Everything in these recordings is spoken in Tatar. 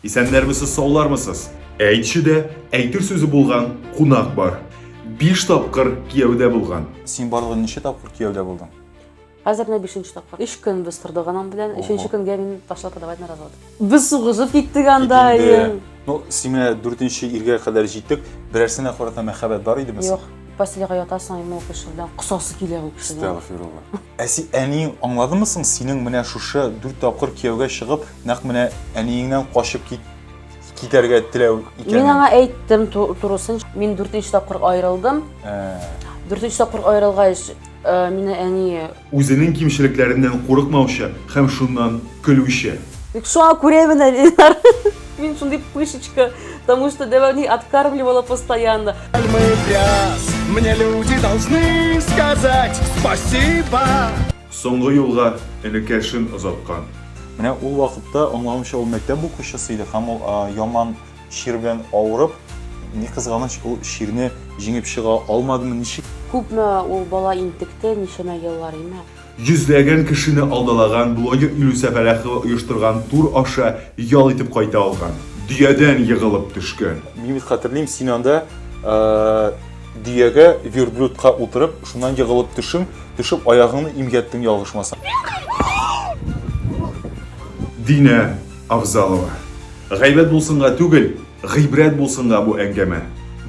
Исәннәрмесез, саулармысыз? Әйтче дә, әйтер сүзе булган кунак бар. Биш тапкыр кияүдә булган. Син барлыгы ничә тапкыр кияүдә булдың? Хәзер менә бишенче тапкыр. Өч көн без тордык анам белән. Өченче көнгә мин ташлап подавать на развод. Без сугышып киттек анда. Ну, син менә дүртенче иргә кадәр җиттек. Берәрсенә карата мәхәббәт бар идеме соң? Юк. Постельга ятасың, ул кеше белән косасы килә ул кешедән. Астагфирулла. Ә син әниең аңладымы соң, синең менә шушы дүрт тапкыр кияүгә чыгып, нәкъ менә әниеңнән качып кит, китәргә теләү икәнен? Мин аңа әйттем турысын. Мин дүртенче тапкыр аерылдым. Ә. Дүртенче тапкыр аерылгач, э, мине әни... Үзенең кимчелекләреннән курыкмаучы һәм шуннан көлүче. Бик шуңа күрә менә, Ленар, мин шундый пышечка, потому что дәвамлы откармливала постоянно. Соңгы юлга энекәшен озаткан. Менә ул вакытта, аңлавымча, ул мәктәп укучысы иде һәм ул яман чир белән авырып, ни кызганыч, ул чирне җиңеп чыга алмадымы, ничек? Күпме ул бала интекте, ничәмә еллар, имә? Йөзләгән кешене алдалаган блогер Илүсә Фәләхова оештырган тур аша ял итеп кайта алган. Дөядән егылып төшкән. Мин бит хәтерлим, син анда дөягә, верблюдка утырып, шуннан егылып төшең, төшеп аягыңны имгәттең, ялгышмасам. Динә Авзалова. Гайбәт булсынга түгел, гыйбрәт булсынга бу әңгәмә.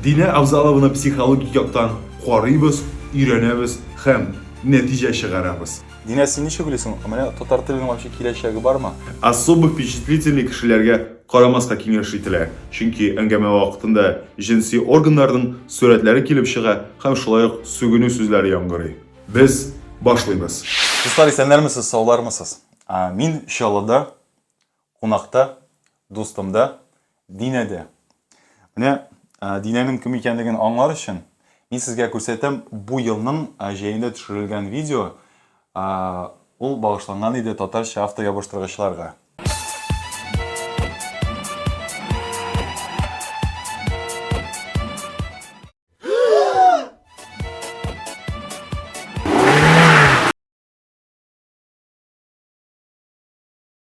Динә Авзалованы психологик яктан карыйбыз, өйрәнәбез һәм. нәтиҗә чыгарабыз. Динә, син ничек уйлыйсың, менә татар теленең вообще киләчәге бармы? Особо впечатлительный кешеләргә карамаска киңәш ителә, чөнки әңгәмә вакытында җенси органнарның сурәтләре килеп чыга һәм шулай ук сүгенү сүзләре яңгырый. Без башлыйбыз. Дуслар, исәннәрмесез, саулармысыз? Мин Чаллыда Кунакта, дустым да, Динә дә. Менә Динәнең кем икәнлеген аңлар өчен, мин сезгә күрсәтәм бу елның җәендә төшерелгән видео, ул багышланган иде татарча автоябыштыргычларга.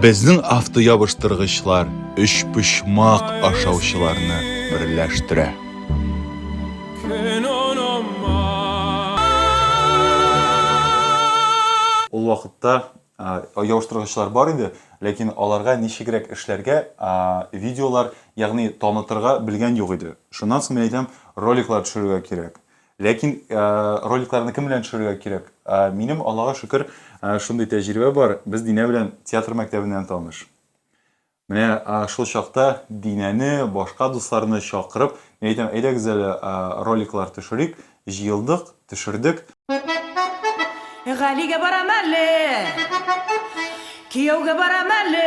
Безнең автоябыштыргычлар өч почмак ашаучыларны берләштерә. Ул вакытта ябыштыргычлар бар иде, ләкин аларга ничегрәк эшләргә, видеолар, ягъни танытырга белгән юк иде. Шуннан соң мин әйтәм, роликлар төшерергә кирәк. Ләкин роликларны кем белән төшерергә кирәк? Минем, Аллага шөкер, шундый тәҗрибә бар. Без Динә белән театр мәктәбеннән таныш. Менә шул чакта Динәне, башка дусларны чакырып, мин әйтәм, әйдәгез әле роликлар төшерик. Җыелдык, төшердек. Галигә барам әле. Кияүгә барам әле.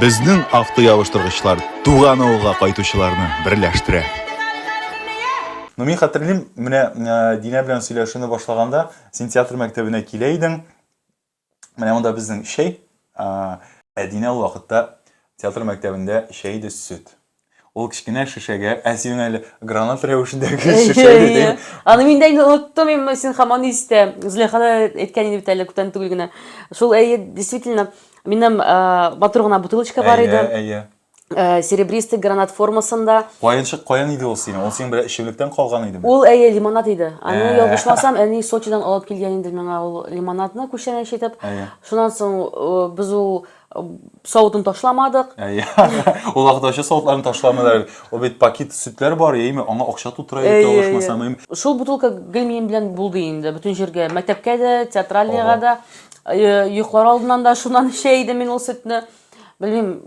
Безнең автоябыштыргычлар туган авылга кайтучыларны берләштерә. Ну, мин хәтерлим, менә э, Динә белән сөйләшүне башлаганда, син театр мәктәбенә килә идең. Менә монда безнең чәй. Ә Динә ул вакытта театр мәктәбендә чәй дә сөт. Ул кечкенә шешәгә, ә син әле гранат рәвешендәге шешә дидең. Аны мин дә инде оныттым, әмма син хаман истә. Зөләйха да әйткән иде бит әле күптән түгел генә. Шул әйе, действительно, минем матур гына бутылочка бар иде. Әйе, әйе. Э, серебристый гранат формасында. Каенчык каян иде ул синең? Ул синең бер эчемлектән калган идеме? Ул әйе лимонад иде. Аны ә. ялгышмасам, әни Сочидан алып килгән инде миңа ул лимонадны күчәнәч итеп. Шуннан соң э, без ул савытын ташламадык. Ул охтачы савытларын ташламадылар. Ул бит пакет сөтләр бар, яме аңа акча тутыра иде алышмасам. Шул бутылка гел минем белән булды инде, бөтен җиргә, мәктәпкә дә, театральныйга да, йоклар алдыннан да шуннан эчә идем мин ул сөтне. Белмим,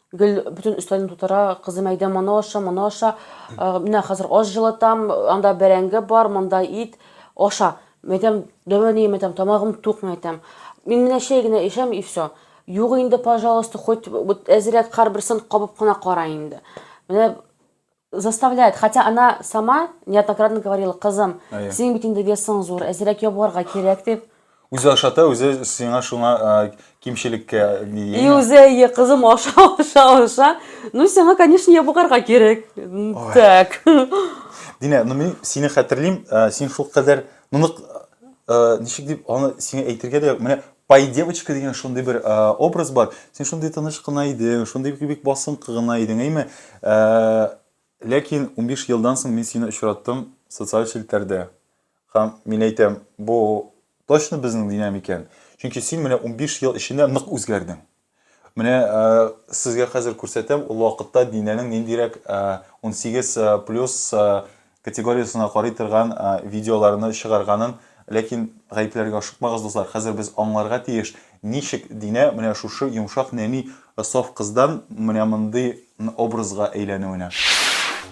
Гел бөтен өстәлне тутыра, кызым әйдә моны аша, моны аша. Э, Менә хәзер аш җылытам, анда бәрәңге бар, монда ит, аша. Мин әйтәм, дәвә ни, мин әйтәм, тамагым тук, мин әйтәм. Мин менә чәй генә эчәм и все. Юк инде, пожалуйста, хоть вот әзрәк кар берсен кабып кына кара инде. Менә Заставляет, хотя она сама неоднократно говорила, кызым, Әйе. синең бит инде весың зур, әзрәк ябыгарга кирәк дип. Үзе ашата, үзе сиңа шуңа а, кимчелеккә ни И дигән. үзе, әйе, кызым, аша, аша, аша. Ну, сиңа, конечно, ябыгарга кирәк. М, Ой. Так. Динә, ну мин сине хәтерлим, ә, син шулкадәр Моны э, ничек дип аны сиңа әйтергә дә юк. Менә пай девочка дигән шундый бер э, образ бар. Син шундый тыныч кына идең, шундый бик басынкы гына идең, әйме? Э, ләкин 15 елдан соң мин сине очраттым социаль челтәрдә. Һәм мин әйтәм, бу точно безнең динамикән. Чөнки син менә 15 ел эчендә нык үзгәрдең. Менә сезгә хәзер күрсәтәм, ул вакытта Динәнең ниндирәк унсигез плюс категориясенә карый торган видеоларны чыгарганын. Ләкин гаепләргә ашыкмагыз, дуслар, хәзер без аңларга тиеш, ничек Динә менә шушы йомшак нәни саф кыздан менә мондый образга әйләнүенә.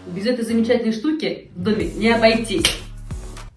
Без этой замечательной штуки в доме не обойтись.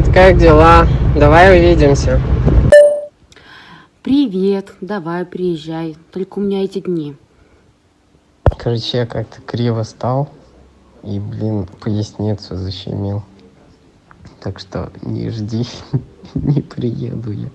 Привет, как дела? Давай увидимся. Привет, давай приезжай, только у меня эти дни. Короче, я как-то криво стал и, блин, поясницу защемил. Так что не жди, не приеду я.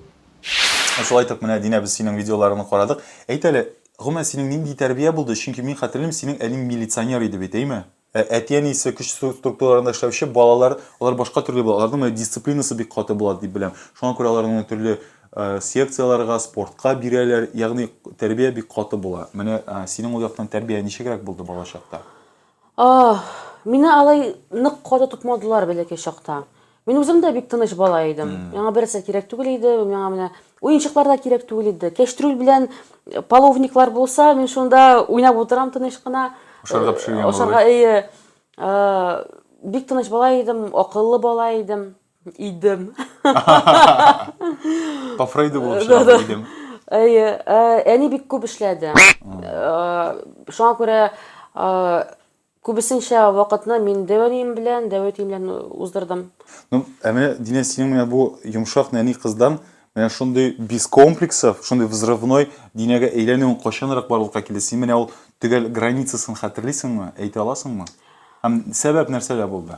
Шулай итеп, менә Динә без синең видеоларыңны карадык. Әйт әле, гомумән синең нинди тәрбия булды? Чөнки мин хәтерлим, синең әниң милиционер иде бит, әйме? Ә әти-әнисе көч структураларында эшләүче балалар, алар башка төрле була. Аларның менә дисциплинасы бик каты була дип беләм. Шуңа күрә аларны менә төрле э, секцияләргә, спортка бирәләр. Ягъни тәрбия бик каты була. Менә э, синең ул яктан тәрбия ничегрәк булды балачакта? А, мине алай нык каты тотмадылар бәләкәй чакта. Мин үзем дә бик тыныч бала идем. Миңа берсе кирәк түгел иде, миңа менә уенчыклар да кирәк түгел иде. Кәштрүл белән э, половниклар булса, мин шунда уйнап утырам тыныч кына. Ашарга пешергән э, Ашарга әйе. Э, бик тыныч бала идем, акыллы бала идем. Идем. По Фрейду булып чыгам идем. Әйе, әни бик күп эшләде. Шуңа күрә Күбесенчә вакытны мин дәүәнием белән, дәва әтием белән уздырдым. Ну, ә менә, Динә, синең менә бу йомшак нәни кыздан менә шундый без комплексов, шундый взрывной Динәгә әйләнүең кайчанрак барлыкка килде? Син менә ул төгәл границасын хәтерлисеңме, әйтә аласыңмы? Һәм сәбәп нәрсәдә булды?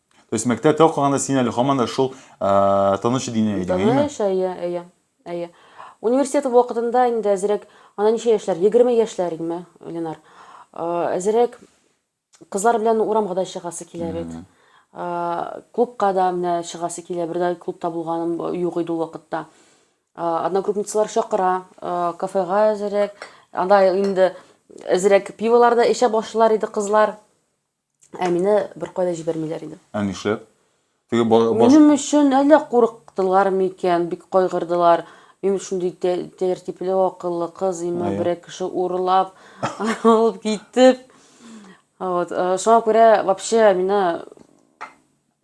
То есть мәктәптә укыганда син әле һаман да шул тыныч дине идең, әйеме? Тыныч, әйе, әйе, әйе. Университет вакытында инде әзерәк, ана ничә яшьләр, 20 яшьләр идеме, Ленар? Әзерәк кызлар белән урамга да чыгасы килә бит. Клубка да менә чыгасы килә, бер дә клубта булганым юк иде ул вакытта. Одногруппницалар чакыра, кафега әзерәк, анда инде әзерәк пиволар да эчә башлар иде кызлар. Ә мине беркайда җибәрмиләр иде. Ә нишләп? Теге баш... Минем өчен әллә курыктылар микән, бик кайгырдылар. Мин шундый тәртипле, акыллы кыз, имма берәр кеше урлап, алып китеп. Вот. Э, шуңа күрә вообще мина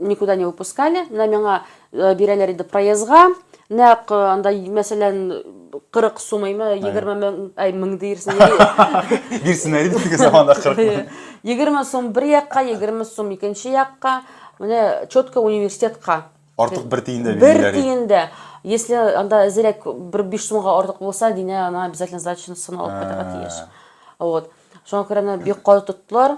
никуда не выпускали, менә миңа э, бирәләр иде проездга, нәкъ э, анда, мәсәлән, 40 сумыймы, 20 мең, әй, мең диерсең. Бирсеннәр иде теге заманда 40 мең. 20 сум бер якка, 20 сум икенче якка, менә четко университетка. Артык бер тиен дә бирмиләр. Бер тиен дә. Если анда әзерәк бер 5 сумга артык булса, динә ана обязательно сдачасын алып кайтырга тиеш. Вот. Шуңа күрә бик каты тоттылар.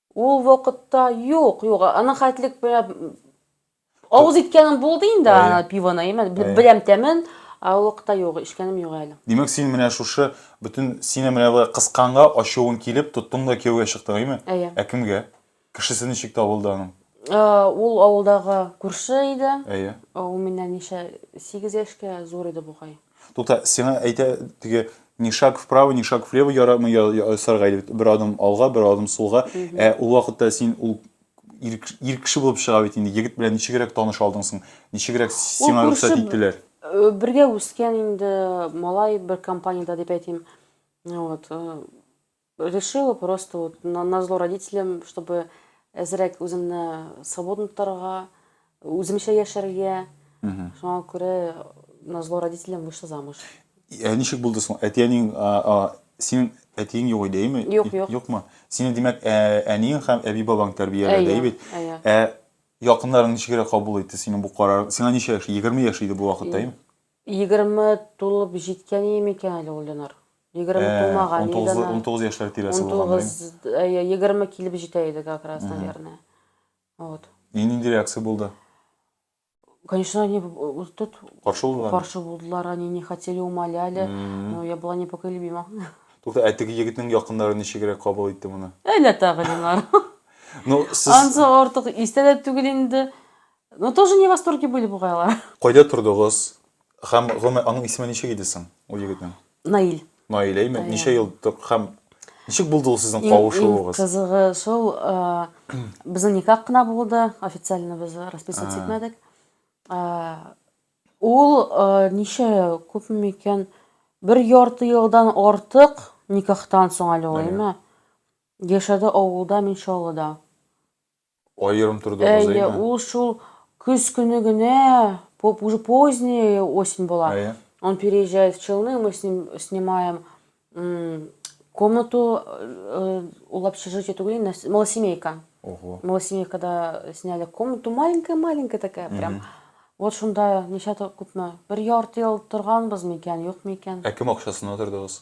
Ул вакытта юк, юк, аның хәтлек белән авыз иткәнем булды инде Әйе. ана пивоны, әйе, мен- Әйе. беләм тәмен, ә ул вакытта юк, эчкәнем юк әле. Димәк, син менә шушы бөтен сине менә болай кысканга ачуың килеп, тоттың да кияүгә чыктың, әйеме? Әйе. Ә кемгә? Кешесе ничек табылды аның? Э, Ул авылдагы күрше иде. Әйе. Ул миннән ничә, сигез яшькә зур иде бугай. Тукта, сиңа әйтә теге ни шаг вправо, ни шаг влево ярамый ясарга иде бит. Бер адым алга, бер адым сулга. Ә ул вакытта син ул ир кеше булып чыга бит инде. Егет белән ничегрәк таныш алдың соң? Ничегрәк сиңа рөхсәт иттеләр? Э, бергә үскән инде малай бер компаниядә дип әйтим. Вот. Э, Решила просто вот на, на зло родителям, чтобы әзрәк үземне свободно тотарга, үземчә яшәргә. Шуңа күрә на зло родителям вышла замуж. Ә ничек булды соң? Әтиәнең синең әтиең юк иде, әйме? Юк, юк. Юкмы? Сине димәк, әниең һәм әби бабаң тәрбияләде, әйе бит? Ә якыннарың ничегрәк кабул итте синең бу карар? Сиңа ничә яшь? 20 яшь иде бу вакытта, әйме? Егерме тулып җиткәние микән әле ул, Ленар? Егерме Ә, тулмаган иде унтугызлы, ана. унтугыз яшьләр тирәсе булган, беләм. Унтугыз, әйе, егерме килеп җитә иде как раз, наверное. Вот. И нинди реакция булды? Конечно, они э, тут Каршы булдылар. каршы булдылар, они не хотели, умоляли, но я была непоколебима. Тукта, ә теге егетнең якыннары ничегрәк кабул итте моны? Әллә тагы, Ленар. Ну, сез Ансы артык истә дә түгел инде. Ну тоже не восторге были бугай алар. Кайда тордыгыз? Хәм гомумән аның исеме ничек иде соң ул егетнең? Наил. Наил әйме? Ничә ел хәм ничек булды ул сезнең кавышуыгыз? Кызыгы шул безнең никах кына булды, официально без расписываться итмәдек. Ул ничә күпме икән? Бер ярты елдан артык никахтан соң әле ул, әйме? Яшәде авылда, мин Чаллыда. Аерым тордыгыз, әйме? Әйе, ул шул көз көне генә, уже поздняя осень была. Әйе. Он переезжает в Челны, мы с ним снимаем комнату, ул общежитие түгел, малосемейка. Ого. Малосемейкада сняли комнату, маленькая-маленькая такая, прям. Вот шунда ничә күпме? Бер ярты ел торганбыз микән, юк микән? Ә кем акчасына тордыгыз?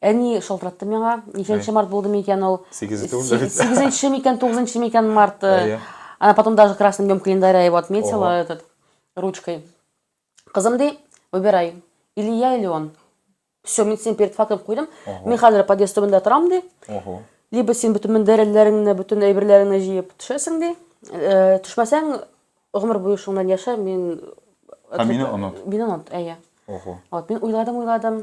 Әни шалтыратты миңа, ничәнче март булды микән ул? Сигезе түгел дә бит. Сигезенче микән, тугызынчы микән март? Әйе. Она потом даже красным днем календаря его отметила Ого. этот ручкой. Кызым ди, выбирай, или я, или он. Все, мин сине перед фактом куйдым. Ого. Мин хәзер подъезд төбендә торам ди. Ого. Либо син бөтен мендәрелләреңне, бөтен әйберләреңне җыеп төшәсең ди. Э, Төшмәсәң, гомер буе шуңнан яшә, мин... Һәм мине оныт. Мине онот, әйе. Ого. Вот, мин уйладым, уйладым.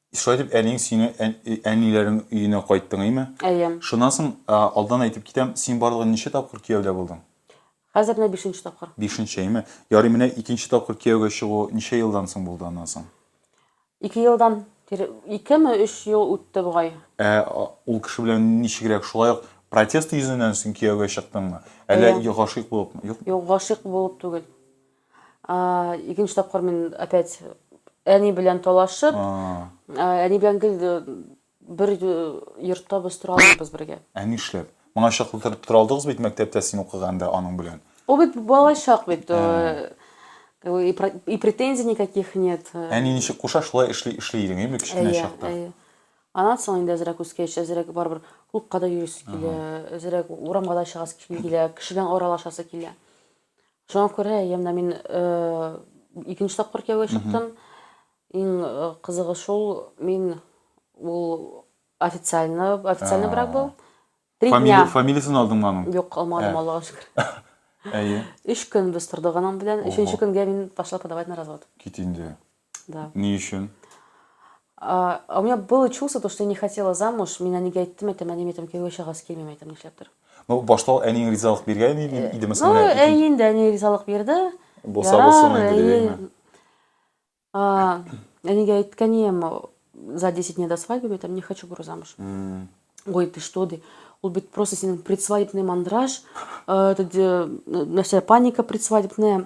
Шулай итеп, әниең сине әниләрең өенә кайттың, әйме? Әйе. Шуннан соң, алдан әйтеп китәм, син барлыгы ничә тапкыр кияүдә булдың? Хәзер менә бишенче тапкыр. Бишенче, әйме? Ярый, менә икенче тапкыр кияүгә чыгу ничә елдан соң булды аннан соң? Ике елдан, икеме, өч ел үтте бугай. Ә ул кеше белән ничегрәк, шулай ук протест йөзеннән син кияүгә чыктыңмы? Әллә гашыйк булыпмы? Юк, гашыйк булып түгел. Икенче тапкыр мин опять әни белән талашып, әни белән гел бер йортта без тора алмыйбыз бергә. Ә нишләп? Моңа чаклы тора алдыгыз бит мәктәптә син укыганда аның белән. Ул бит бала чак бит. И претензий никаких нет. Әни ничек куша, шулай эшли, эшли идең, әйеме, кечкенә чакта? Әйе, әйе. Аннан соң инде әзрәк үскәч, әзрәк барыбер клубка да йөрисе килә, әзрәк урамга да чыгасы килә, кеше белән аралашасы килә. Шуңа күрә я менә мин икенче тапкыр кияүгә чыктым. Иң кызыгы шул, мин ул официально, официальный А. брак был. Три Фамили... дня. Фамилиясен алдыңмы аның? Юк, алмадым, Ә. Аллага шөкер. Әйе. Өч көн без тордык аның белән. Ого. Өченче көнгә мин пошла подавать на развод. Кит инде. Да. Ни өчен? А, а у меня было чувство, то, что я не хотела замуж, мин әнигә әйттем, әйтәм, әни, әйтәм, кияүгә чыгасы килмим, әйтәм, нишләптер. Ну, башта ул әниең ризалык биргән иде, э, идеме соң? Ну, әй инде әни ризалык бирде. Булса булсын инде дигәнме? Әнигә әйткән ием, за 10 дней до свадьбы, әйтәм, не хочу бура замуж. Ой, ты что, ди. Ул бит просто синең предсвадебный мандраж, э, нәрсә, паника предсвадебная.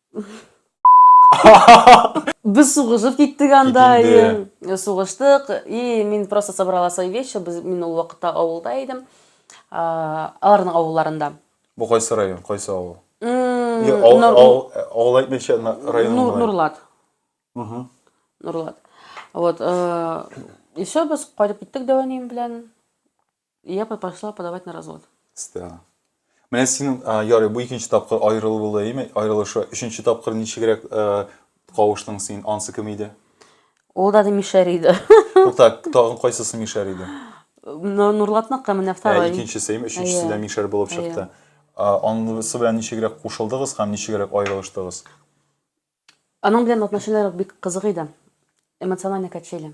Без сугышып киттек анда. Кикенде. Сугыштык. И мин просто собрала свои вещи. Без мин ул вакытта авылда идем. Аларның авылларында. Бу кайсы район, кайсы авыл? Авыл әйтмичә район. Нурлат. Нурлат. Вот. И все, без кайтып киттек дәванем белән. И я пошла подавать на развод. Стена. Менә синең а, ярый бу икенче тапкыр аерылу булды, әйме? Аерылышы. Өченче тапкыр ничегрәк э, кавыштың син? Ансы кем иде? Ул да мишәр иде. Тукта, тагын кайсысы мишәр иде? Ну, Нурлатныкы менә Ә, второй. икенчесе, әйме? Өченчесе Әйе. дә мишәр булып Әйе. чыкты. А, Анысы белән ничегрәк кушылдыгыз һәм ничегрәк аерылыштыгыз? Аның белән отношенияләр бик кызык иде. Эмоциональный качели.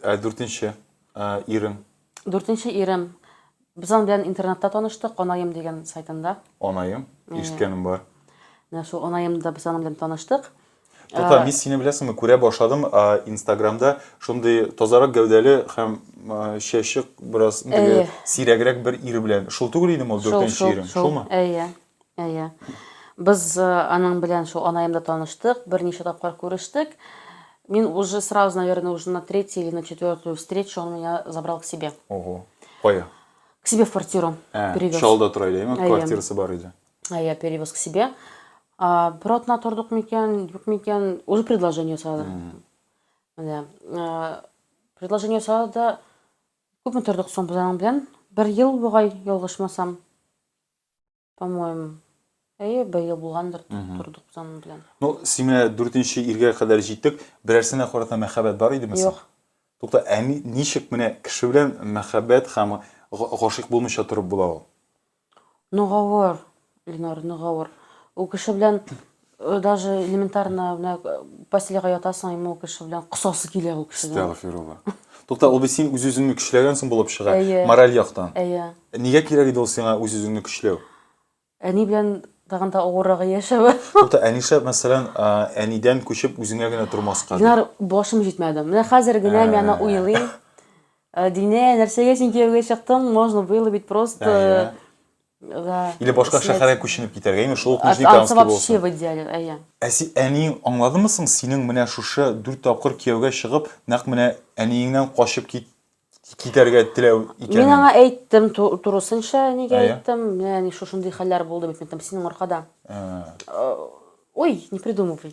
Ә дүртенче ирең? Дүртенче ирем. Без аның белән интернетта таныштык, Анаем дигән сайтында. Анаем? Ишеткәнем бар. Менә шул Анаемда без аның белән таныштык. Тота, мин сине беләсеңме, күрә башладым Инстаграмда шундый тазарак гәүдәле һәм чәче бераз сирәгрәк бер ир белән. Шул түгел инде ул дүртенче ирең, шулмы? Әйе. Әйе. Без э, аның белән шул анаемда таныштык, берничә тапкыр күрештек. Мин уже сразу, наверное, уже на третью или на четвертую встречу он меня забрал к себе. Ого. Кая? К себе в квартиру Ә, перевез. Чалда тора иде, әйме? Әйе. Квартирасы бар иде. А я перевез к себе. А, бер атна тордык микән, юк микән, уже предложение ясады. Менә, э, предложение ясады да күпме тордык соң без аның белән? Бер ел бугай, ялгышмасам. По-моему, әйе, быел булгандыр, тордык без аның белән. Ну, син менә дүртенче иргә кадәр җиттек. Берәрсенә карата мәхәббәт бар идеме соң? Юк. Тукта, ә ничек менә кеше белән мәхәббәт һәм гашыйк булмыйча торып була ул? Ну, гавыр, Ленар, ну, гавыр. Ул кеше белән Даже элементарно менә постельга ятасың, иму кеше белән косасы килә ул кешедән. Астагфирулла. Тукта, ул бит син үз-үзеңне көчләгәнсең булып чыга, мораль яктан. Әйе. Нигә кирәк иде ул сиңа үз-үзеңне көчләү? Әни белән тагын да авыррагы яшәве. Тукта, әниша, мәсәлән, әнидән күчеп үзеңә генә тормаска. Динар, башым җитмәде. Менә хәзер генә мин аны уйлыйм. Динә, нәрсәгә син кияүгә чыктың? Можно было ведь просто Или башка шәһәргә күченеп китәргә, имеш, шул ук Нижнекамский булсын. вообще в идеале, әйе. Ә син әниең аңладымы соң, синең менә шушы дүрт тапкыр кияүгә чыгып, нәкъ менә әниеңнән качып кит китәргә теләү икәнен? Мин аңа әйттем, турысынча әнигә әйттем, менә әни шушындый хәлләр булды бит, мин там синең аркада. Ой, не придумывай.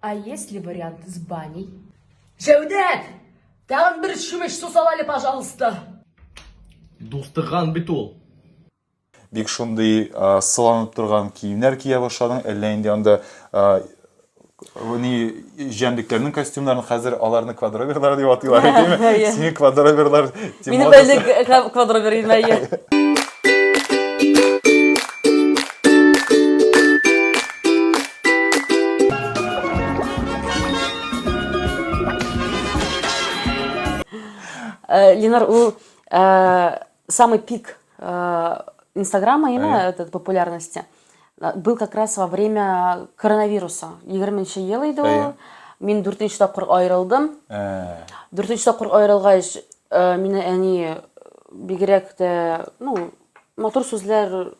А если вариант с баней? Җәүдәт! Тагын бер чүмеч су сал әле, пожалуйста. Дустыган бит ул. Бик шундый а, сыланып торган киемнәр кия башладың, әллә инде анда а, ни җәнлекләрнең костюмнарын хәзер аларны квадроберлар дип атыйлар әйтеме? Әйе. Сине квадроберлар дип Минем модасы- әле г- квадробер име, әйе. Э, Ленар, ул э, самый пик э, Инстаграма, именно этот популярности, был как раз во время коронавируса. 20 ел иде ул. Мин 4 нче тапкыр аерылдым. 4 нче тапкыр аерылгач, мине әни бигрәк тә, ну, матур сүзләр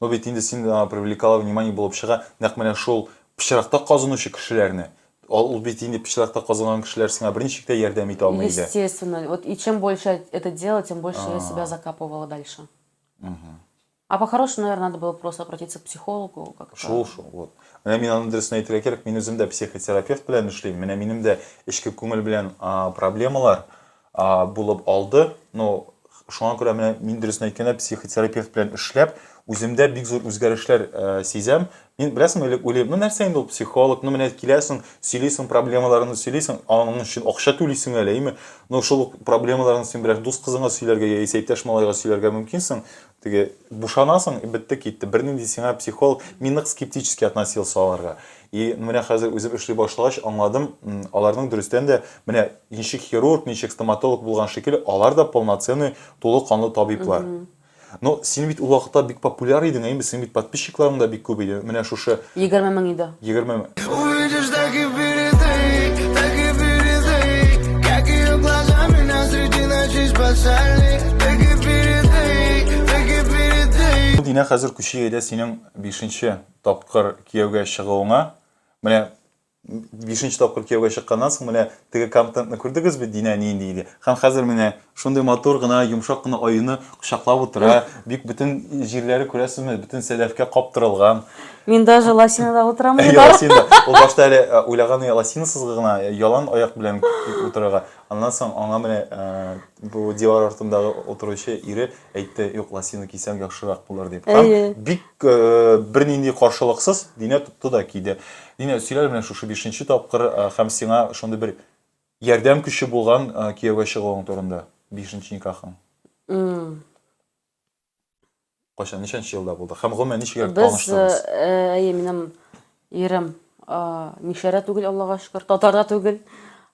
Ну бит инде син а, привлекала внимание булып чыга, нәкъ менә шул пычракта казынучы кешеләрне. Ал- Ул бит инде пычракта казынган кешеләр сиңа берничек тә ярдәм итә алмый иде. Естественно. Вот и чем больше я это делала, тем больше я себя закапывала дальше. А по-хорошему, наверное, надо было просто обратиться к психологу как-то. Шул шул. Вот. Менә мин аны дөресен әйтергә кирәк, мин үзем дә психотерапевт белән эшлим. Менә минем дә эчке күңел белән а, проблемалар. булып алды. Ну, шуңа күрә менә мин дөресен әйткәндә психотерапевт белән эшләп, үземдә бик зур үзгәрешләр э, сизәм. Мин беләсең, элек уйлыйм, ну нәрсә инде ул психолог, ну менә киләсең, сөйлисең проблемаларыңны сөйлисең, аның өчен акча түлисең әле, әйме? Ну шул проблемаларыңны син берәр дус кызыңа сөйләргә яисә иптәш малайга сөйләргә мөмкинсең. Теге бушанасың, бетте китте. Бернинди сиңа психолог, мин нык скептически относился аларга. И менә хәзер үзем эшли башлагач аңладым, аларның дөрестән дә менә ничек хирург, ничек стоматолог булган шикелле, алар да полноценный, тулы канлы табиблар. Но син бит ул вакытта бик популяр идең, әйеме? Синең бит подписчикларың да бик күп иде. Менә шушы Егерме мең иде. Егерме мең. Динә, хәзер күчик әйдә синең бишенче тапкыр кияүгә чыгуыңа. Менә бишенче тапкыр кияүгә чыкканнан соң менә теге контентны күрдегез бит Динә нинди иде. Һәм хәзер менә шундый матур гына, йомшак кына аюны кочаклап утыра. Бик бөтен җирләре күрәсезме, бөтен сәдәфкә каптырылган. Мин даже лосинада утырам ди бар. Лосинада. Ул башта әле уйлаганы лосинасыз гына, ялан аяк белән утырырга. Аннан соң аңа менә бу дивар артында утыручы ире әйтте, юк, лосина кисәң яхшырак булыр дип. Һәм бик бернинди каршылыксыз Динә тотты да киде. Динә, сөйлә әле менә шушы бишенче тапкыр һәм сиңа шундый бер ярдәм көче булган кияүгә чыгуың турында. Бишенче никахың. Кайчан, ничәнче елда булды? Һәм гомумән ничек Без, таныштыгыз? э, әйе, минем ирем а, мишәрә түгел, Аллага шөкер, татар да түгел.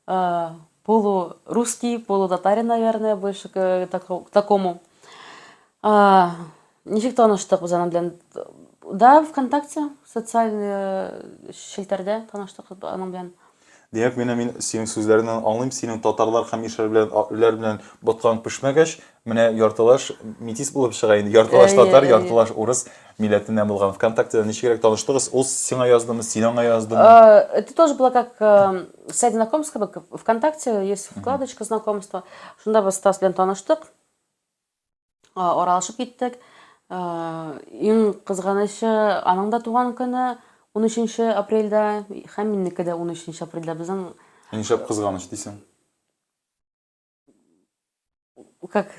А, полу русский, полу татарин, наверное, больше к тако- к такому. А, Ничек таныштык без аның белән? Да, ВКонтакте, социаль э, челтәрдә таныштык аның белән. Димәк, менә мин синең сүзләреңнән аңлыйм, синең татарлар һәм мишәр белән үләр белән боткаң пешмәгәч, менә яртылаш метис булып чыга инде. Яртылаш Әйе, татар, әйе. яртылаш урыс милләтеннән булган. ВКонтактеда ничегрәк таныштыгыз? Ул сиңа яздымы, син аңа яздымы? А, Это тоже было как э, сайт знакомств, как бы ВКонтакте есть вкладочка знакомства. Шунда без Стас белән таныштык. аралашып киттек. Иң кызганычы, аның да туган көне 13 апрельдә һәм минеке дә 13 апрельдә. Безнең Нишләп кызганыч дисең? Как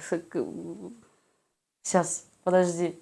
сейчас, подожди.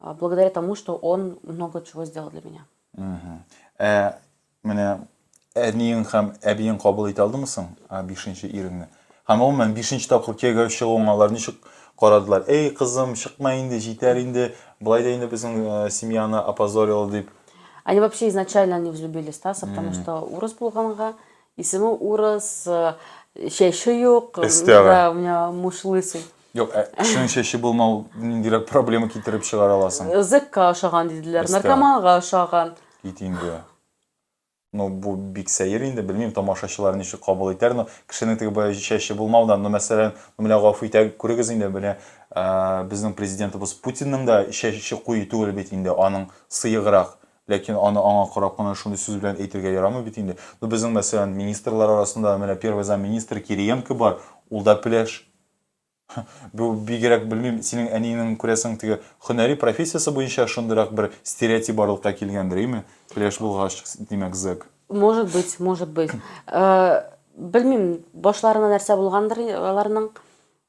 А, благодаря тому, что он много чего сделал для меня. Ә менә әниең һәм әбиең кабул итә алдымы соң бишенче иреңне? Һәм гомумән бишенче тапкыр кияүгә чыгуың алар ничек карадылар? Эй, кызым, чыкма инде, җитәр инде, былай да инде безнең э, семьяны опозорил дип. Они вообще изначально не взлюбили Стаса, потому что урыс булганга, Исеме урыс, чәче юк, да, у меня муж лысый. Юк, ә кешенең чәче булмау ниндирәк проблема китереп чыгара аласың? Зекка ошаган диделәр, наркоманга ошаган. Кит инде. Ну, бу бик сәер инде, белмим, тамашачылар ничек кабул итәр, но кешенең теге бая чәче булмаудан, ну, мәсәлән, ну, менә гафу итә, күрегез инде, менә безнең президентыбыз Путинның да чәче куе түгел бит инде, аның сыеграк. Ләкин аны аңа карап кына шундый сүз белән әйтергә ярамый бит инде. Ну, безнең, мәсәлән, министрлар арасында менә первый замминистр Кириенко бар, ул да пеләш. Бу бигрәк, белмим, синең әниеңнең, күрәсең, теге һөнәри профессиясе буенча шундыйрак бер стереотип барлыкка килгәндер, име? Пеләш булгач, димәк, зэк. Может быть, может быть. Белмим, башларына нәрсә булгандыр аларның.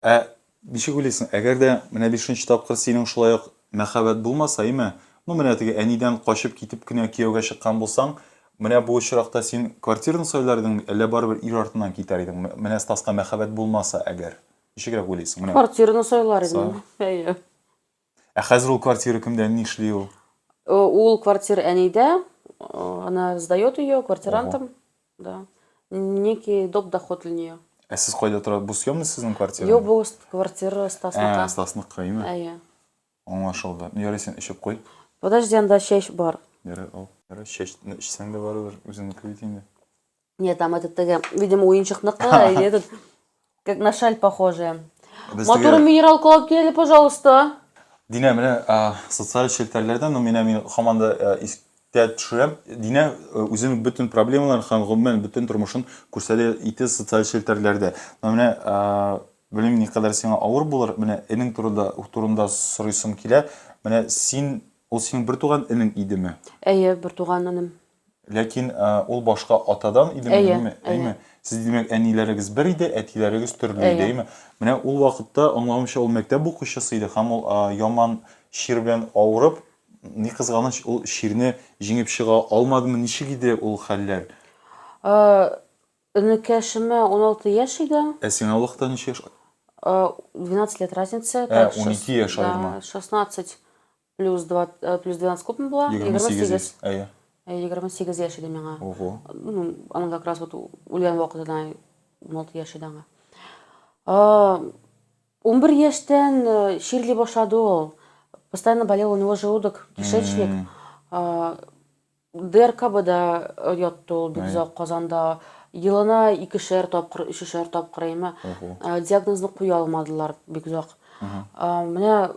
Ә ничек уйлыйсың, әгәр дә менә бишенче тапкыр синең шулай ук мәхәббәт булмаса, име? Ну, менә теге әнидән качып китеп кенә кияүгә чыккан булсаң, менә бу очракта син квартираны сайлар идеңме, әллә барыбер ир артыннан китәр идеңме? Менә Стаска мәхәббәт булмаса, әгәр. Ничегрәк уйлыйсың? Менә. Квартираны сайлар идем. Әйе. Ә хәзер ул квартира кемдә, нишли ул? Э, ул квартира әнидә, э, она сдает ее квартирантам, да. Некий доп доход для нее. Ә сез кайда тора? Бу съемный сезнең квартира? Юк, бу квартира Стасныка. Ә, Стасныка, име? Әйе. Аңлашылды. Ну, ярый, сен эчеп кой. Подожди, анда чәч бар. Ярый, ал. Ярый, чәчне эчсәң дә барыбер, үзеңнеке бит инде. Нет, там этот, теге, видимо, уенчыкныкы, или этот, как на шаль похожая. Без Матур теге- минерал колап килели, пожалуйста. Динә, менә а, социаль челтәрләрдән, ну, менә мин һаман да а, искә төшерәм. Динә а, үзенең бөтен проблемаларын һәм гомумән бөтен тормышын күрсәтә иде социаль челтәрләрдә. Но менә а, белмим, никадәр сиңа авыр булыр, менә энең турында, турында сорыйсым килә. Менә син, ул синең бертуган энең идеме? Әйе, бер туган энем. Ләкин ул башка атадан идеме, әйе, әйме? Әйме? Сез димәк, әниләрегез бер иде, әтиләрегез төрле иде, әйме? Менә ул вакытта аңламыйча ул мәктәп укучысы иде һәм ул яман чир белән авырып, ни кызганыч, ул чирне җиңеп чыга алмадымы, ничек иде ул хәлләр? Энекәшемә 16 яшь иде. Ә сиңа вакытта ничек яшь? 12 лет разница. Ә, 12 яшь аерма. 16. Плюс 2, э, плюс 12 күпме була? 28 яшь. Әйе. 28 яшь иде миңа. Ого. Ну, аның как раз вот үлгән вакытына 16 яшь иде аңа. 11 яшьтән э, чирли башлады ул. Постоянно болел у него желудок, кишечник. Mm -hmm. ДРКБда э, ятты ул бик озак Казанда. Елына икешәр тапкыр, өчешәр тапкыр әйме. Диагнозны куя алмадылар бик озак. Менә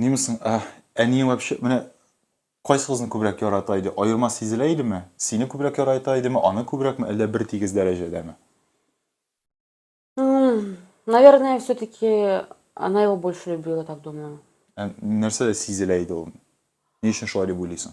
Нимесың, ә, әниең вообще, менә кайсыгызны күбрәк ярата иде? Аерма сизелә идеме? Сине күбрәк ярата идеме, аны күбрәкме, әллә бер тигез дәрәҗәдәме? Наверное, все-таки она его больше любила, так думаю. Ә нәрсәдә сизелә иде ул? Ни өчен шулай дип уйлыйсың?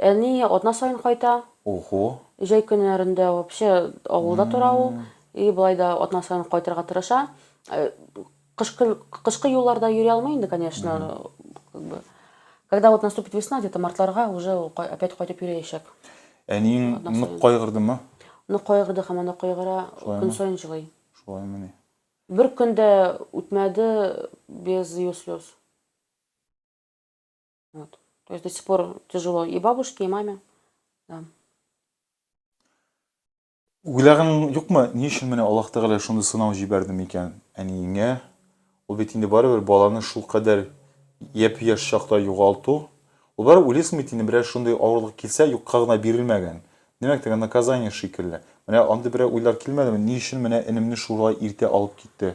Әни атна саен кайта. Ого. Җәй көннәрендә вообще авылда тора ул. И болай да атна саен кайтырга тырыша. Кышкы кышкы юлларда йөри алмый инде, конечно, как бы. Когда вот наступит весна, где-то мартларга уже ул опять кайтып йөриячәк. Әниең нык кайгырдымы? Нык кайгырды һаман да кайгыра, көн саен җылый. Шулаймыни? Бер көн дә үтмәде без ее слез. Вот. То есть до сих пор тяжело и бабушке, и маме. Да. Уйлағаның юкмы, ни өчен менә Аллаһ Тәгалә шундый сынау җибәрде микән әниеңә? Ул бит инде барыбер баланы шул кадәр япь-яшь чакта югалту. Ул барыбер уйлыйсың бит инде берәр шундый авырлык килсә, юкка гына бирелмәгән. Димәк, теге наказание шикелле. Менә андый берәр уйлар килмәдеме? Ни өчен менә энемне шулай иртә алып китте?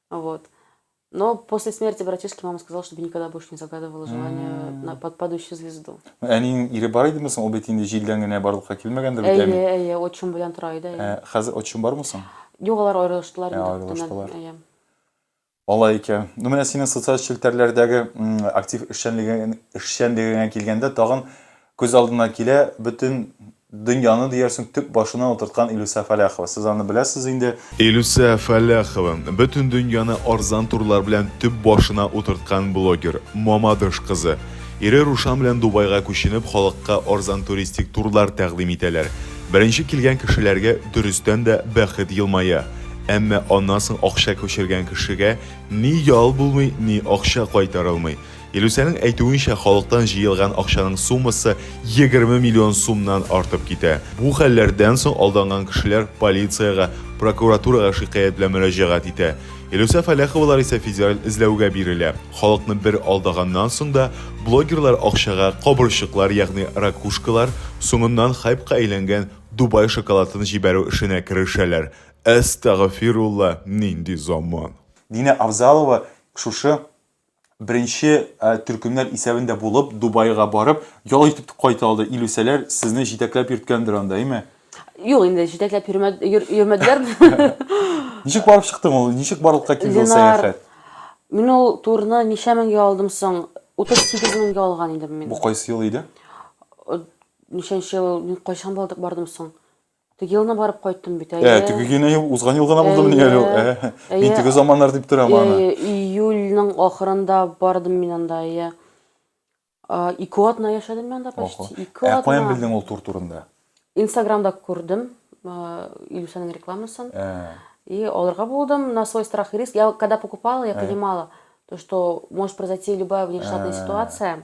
Вот. Но после смерти братишки мама сказала, чтобы никогда больше не загадывала желание на под падающую звезду. Әниң ире бар идеме соң? Ул бит инде җилдән генә барлыкка килмәгәндер бит әни. Әйе, әйе, отчим белән тора иде. Ә, хәзер отчим бармы соң? Юк, алар аерылыштылар инде. Аерылыштылар. Әйе. Алай икән. Ну, менә синең социаль челтәрләрдәге актив эшчәнлегеңә килгәндә, тагын Күз алдына килә, бөтен дөньяны диярсең төп башына утырткан Илүсә Фәләхова. Сез аны беләсез инде. Илүсә Фәләхова, бөтен дөньяны арзан турлар белән төп башына утырткан блогер, Мамадыш кызы. Ире Рушан белән Дубайга күченеп, халыкка арзан туристик турлар тәкъдим итәләр. Беренче килгән кешеләргә, дөрестән дә, бәхет елмая. Әмма аннан соң акча күчергән кешегә ни ял булмый, ни акча кайтарылмый. Илүсәнең әйтүенчә, халыктан җыелган акчаның суммасы 20 миллион сумнан артып китә. Бу хәлләрдән соң алданган кешеләр полициягә, прокуратурага шикаять белән мөрәҗәгать итә. Илүсә Фәләховалар исә федераль эзләүгә бирелә. Халыкны бер алдаганнан соң да, блогерлар акчага кабырчыклар, ягъни ракушкалар, соңыннан хайпка әйләнгән Дубай шоколатын җибәрү эшенә керешәләр. Әстәгъфирулла, нинди заман! Динә Авзалова шушы Беренче төркемнәр исәбендә булып, Дубайга барып, ял итеп кайта алды. Илүсәләр сезне җитәкләп йөрткәндер анда, әйме? Юк, инде җитәкләп йөрмәделәр. Ничек барып чыктың ул? Ничек барлыкка килде ул сәяхәт? Мин ул турны ничә меңгә алдым соң? 38 меңгә алган идем мин. Бу кайсы ел иде? Ничәнче ел? Мин кайчан бардым соң? Теге елны барып кайттым бит, әйе. Ә, теге генә ел, узган ел гына булды мени әле ул. Әйе, Ә, әйе. мин теге заманнар дип торам аны. Әйе, июльнең ахырында бардым мин анда, әйе. А, Ике атна яшәдем мин анда, Ого. почти ике Ә атна. каян белдең ул тур турында? Инстаграмда күрдем а, Илюсәнең рекламасын. Ә, И алырга булдым на свой страх и риск. Я когда покупала, я Ага. понимала, то, что может произойти любая внештатная Ага. ситуация.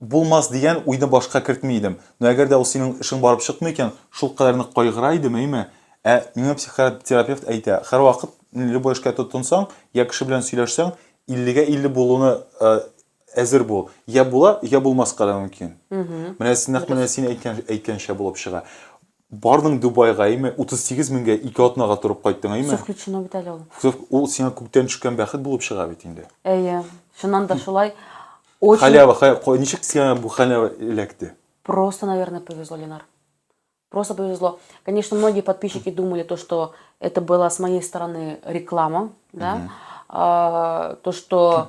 Булмас дигән уйны башка кертми идем. Но әгәр дә ул синең эшең барып чыкмый икән, шулкадәр нык кайгыра идем, әйме? Ә миңа психотерапевт әйтә, һәрвакыт любой эшкә тотынсаң, йә кеше белән сөйләшсәң, иллегә илле булуны әзер бул. Йә була, йә булмаска да мөмкин. Менә нәкъ менә син әйткәнчә булып чыга. Бардың Дубайга, әйме, 38 меңгә ике атнага торып кайттың, әйме? Сез включено бит әле ул. Сез ул сиңа күктән төшкән бәхет булып чыга бит инде. Әйе, чыннан да шулай. Очень... Халява, халява, ничек сиңа бу халява эләкте? Просто, наверное, повезло, Ленар. Просто повезло. Конечно, многие подписчики думали то, что это была с моей стороны реклама, да, mm-hmm. а, то, что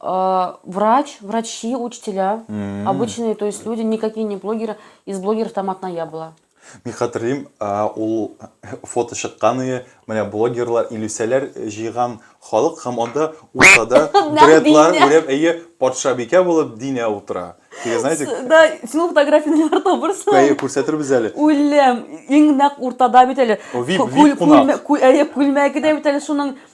А, врач, врачи, учителя, Мгм. обычные, то есть люди, никакие не блогеры. Из блогеров там одна я была. Мин хәтерлим, а, ул фото чыккан иде. Менә блогерлар, илүсәләр җыйган халык һәм анда уртада Нәкъ дредлар Динә. үреп, әйе, патшабикә булып Динә утыра. Теге, знаете, С- Да, син ул фотографияне ниләр әйе, табырсың? күрсәтербез әле. Үлем, иң нәкъ уртада бит әле. О, вип- Кү- вип күл- кунак. күлмә- кү- Әйе, күлмәге дә бит әле шуның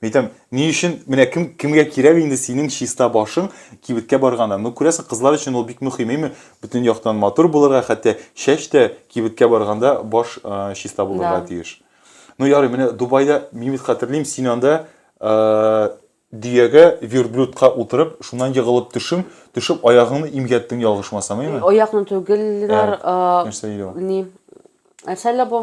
Мин әйтәм, ни өчен, менә кем, кемгә кирәк инде синең чиста башың кибеткә барганда? Ну, күрәсең, кызлар өчен ул бик мөһим, әйме? Бөтен яктан матур булырга, хәтта чәч тә кибеткә барганда баш э, чиста булырга Да. тиеш. Ну, ярый, менә Дубайда, мин бит хәтерлим, син анда э, дөягә, верблюдка утырып, шуннан егылып төшең, төшеп аягыңны имгәттең ялгышмасам, әйме? Оякны түгел, Ленар, Ә, а, Нәрсә иде ул? не, нәрсә әллә бу?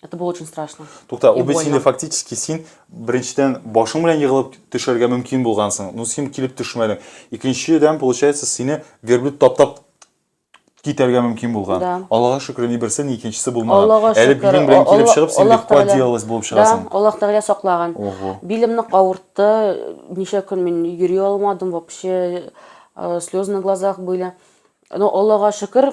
Это было очень страшно. Тукта, ул бит сине фактически син беренчедән башың белән егылып төшәргә мөмкин булгансың. Ну син килеп төшмәдең. Икенчедән получается сине верблюд таптап китәргә мөмкин булган. Да. Аллага шөкер, ни берсе, ни икенчесе булмаган. Аллага шөкер. Әле билең белән килеп чыгып, син бик поделалась булып чыгасың. Да, Аллах Тәгалә саклаган. Билемне кавыртты, ничә көн мин йөри алмадым, вообще э, слезы на глазах были. Но Аллага шөкер,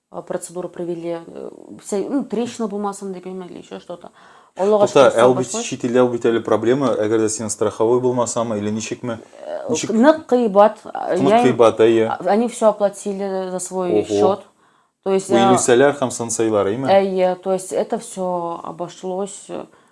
э, процедуру провели, э, вся- ну, трещина булмасын дип яме или еще что-то. Аллага Тукта, шөкер, ә ул бит саубашлы. чит илдә ул бит әле проблема, әгәр дә син страховой булмасамы или ничекме? Ничек Нык кыйбат. э, тынык я им- кыйбат, әйе. А- Они все оплатили за свой Ого. счет. То есть, Бу э, илүсәләр һәм сансайлар, әйме? Э, то есть это все обошлось э,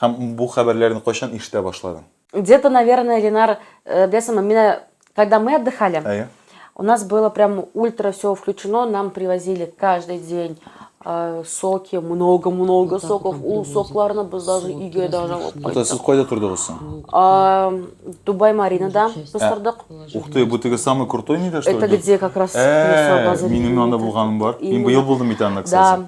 Һәм бу хәбәрләрне кайчан ишетә башладың? Где-то, наверное, Ленар, беләсеңме, менә когда мы отдыхали, Әйе. у нас было прям ультра все включено, нам привозили каждый день э, соки, много-много Вот так соков, вот ул привозят. сокларны без даже Соки өйгә даже алып различные. Ата, сез кайттык. кайда тордыгыз соң? Вот. А, Дубай Маринада Часть. без тордык. Положили. Ух ты, бу теге самый крутой нидә что Это ли? где как раз Э, минем анда булганым бар. Мин быел булдым бит анда, Да, кстати.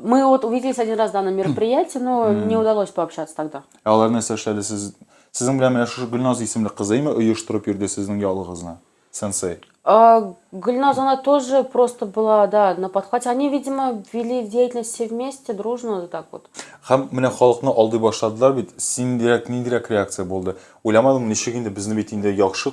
Мы вот увиделись один раз, да, на мероприятии, но не удалось пообщаться тогда. Ә алар нәрсә эшләде сез? Сезнең белән менә шушы Гөлназ исемле кызы име оештырып йөрде сезнең ялыгызны? Сенсей. А, Гульназ, она тоже просто была, да, на подхвате. Они, видимо, вели деятельность все вместе, дружно, вот так вот. Һәм менә халыкны алдый башладылар бит. Синдирәк, ниндирәк реакция булды? Уйламадым, ничек инде безне бит инде яхшы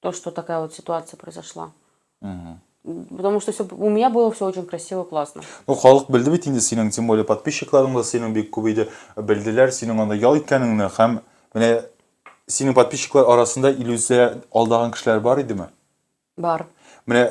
То, что такая вот ситуация произошла. Угу. Потому что все, у меня было все очень красиво, классно. Ну, халык белде бит инде синең, тем более подписчикларың да синең бик күп иде. Белделәр синең анда ял иткәнеңне һәм менә синең подписчиклар арасында иллюзия алдаган кешеләр бар идеме? Бар. Менә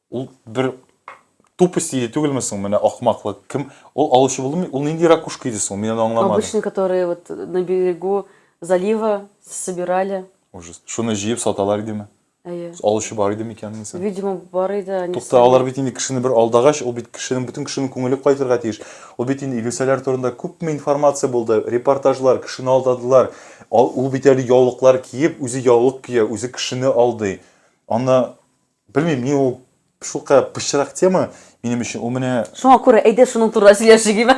Ул бер тупость иде түгелме соң, менә ахмаклык. Кем ул алучы булдымы? Ул нинди ракушка иде соң? Мин аны аңламадым. Обычный, которые вот на берегу залива собирали. Ужас. Шуны җыеп саталар идеме? Әйе. Алучы бар иде микән аны соң? Видимо, бар иде, они. Тукта, алар бит инде кешене бер алдагач, ул бит кешенең, бөтен кешенең күңеле кайтырга тиеш. Ул бит инде Илүсәләр турында күпме информация булды, репортажлар, кешене алдадылар. Ул бит әле яулыклар киеп, үзе яулык кия, үзе кешене алдый. Аны Белмим, мин ул шулка пычрак тема минем өчен. Ул менә Шуңа күрә әйдә шуның турында сөйләшик име?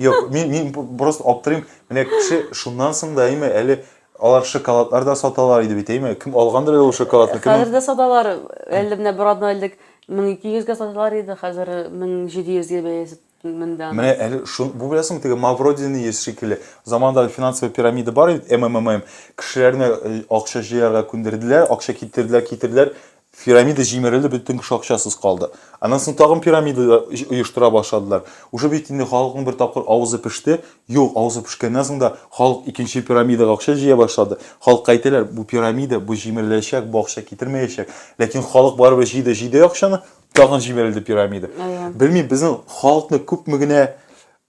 Юк, мин мин просто аптырыйм. Менә кеше шуннан соң да әйме әле алар шоколадлар да саталар иде бит, әйме? Кем алгандыр әле ул шоколадны? Кем? Хәзер дә саталар. Әле менә бер атна элек 1200 гә саталар иде, хәзер 1700 гә бәясе Монда. Менә әле шун, бу беләсеңме, теге Мавродины йөз шикелле. Заманда финансовый пирамида бар иде, ММММ. Кешеләрне э, акча җыярга күндерделәр, акча китерделәр, китерделәр. Пирамида җимерелде, бөтен кеше акчасыз калды. Аннан соң тагын пирамида оештыра башладылар. Уже бит инде халыкның бер тапкыр авызы пеште. Юк, авызы пешкәннән соң да халык икенче пирамидага акча җыя башлады. Халыкка әйтәләр, бу пирамида, бу җимереләчәк, бу акча китермәячәк. Ләкин халык барыбер җыйды, җыйды акчаны, Тагын җимерелде пирамида. Белмим, безнең халыкны күпме генә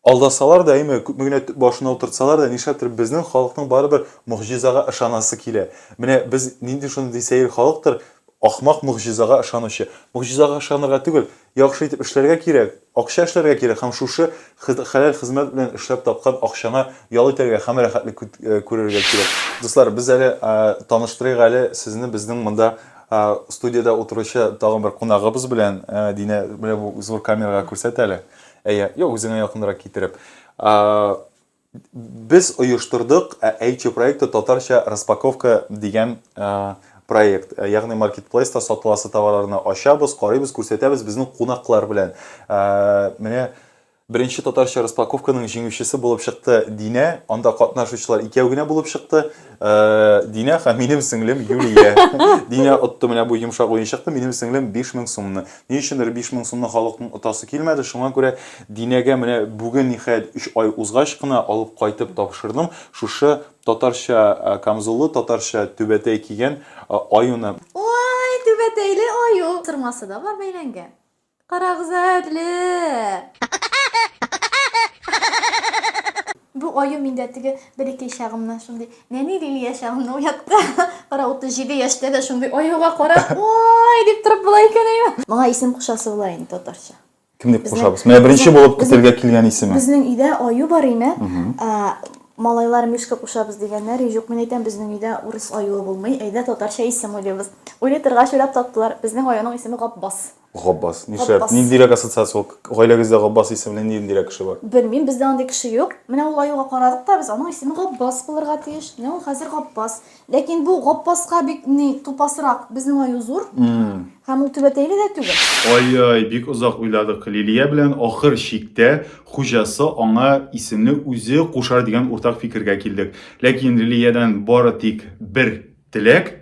алдасалар да, әйме, күпме генә башына утыртсалар да, нишләптер безнең халыкның барыбер могҗизага ышанасы килә. Менә без нинди шундый сәер халыктыр, ахмак могҗизага ышанучы. Могҗизага ышанырга түгел, яхшы итеп эшләргә кирәк, акча эшләргә кирәк һәм шушы хәләл хезмәт белән эшләп тапкан акчаңа ял итәргә һәм рәхәтлек күрергә кирәк. Дуслар, без әле таныштырыйк әле сезне безнең монда Ә студиядә утыручы тагын бер кунагыбыз белән Динә, менә бу зур камерага күрсәт әле. Әйе, юк, үзеңә якынрак китереп. Без оештырдык Эйчи проекты татарча распаковка дигән проект. Ягъни маркетплейста сатыласы товарларны ачабыз, карыйбыз, күрсәтәбез безнең кунаклар белән. Менә Беренче татарча распаковканың җиңүчесе булып чыкты Динә. Анда катнашучылар икәү генә булып чыкты. Динә һәм минем сеңлем Юлия. Динә отты менә бу йомшак уенчыкны, минем сеңлем 5000 сумны. Ни өчендер 5000 сумны халыкның отасы килмәде, шуңа күрә Динәгә менә бүген, ниһаять, өч ай узгач кына алып кайтып тапшырдым шушы татарча камзуллы, татарча түбәтәй кигән аюны. Ой, түбәтәйле аю! Сырмасы да бар бәйләнгән. Карагыз әле! Бу аю миндә теге бәләкәй чагымнан шундый нәни Лилия чагымны уятты. Кара 37 яшьтә дә шундый аюга карап, ой, дип торып була икән әйе. Моңа исем кушасы була инде татарча. Кем дип кушабыз? Менә беренче булып көтелгә килгән исеме. Безнең өйдә аю бар име? Малайлар мишка кушабыз дигәннәр, юк, мин әйтәм, безнең өйдә урыс аюы булмый, әйдә татарча исем уйлыйбыз. Уйлый торгач уйлап таптылар, безнең аюның исеме Габбас. Габбас. Нишләп? Габбас. Ниндирәк ассоциация ул? Гаиләгездә Габбас исемле ниндирәк кеше бар? Белмим, бездә андый кеше юк. Менә ул аюга карадык та без, аның исеме Габбас булырга тиеш. Менә ул хәзер Габбас. Ләкин бу Габбаска бик ни тупасрак. Безнең аю зур. Һәм ул түбәтәйле дә түгел. Ай-яй, бик озак уйладык. Лилия белән ахыр чиктә хуҗасы аңа исемне үзе кушар дигән уртак фикергә килдек. Ләкин Лилиядән бары тик бер теләк,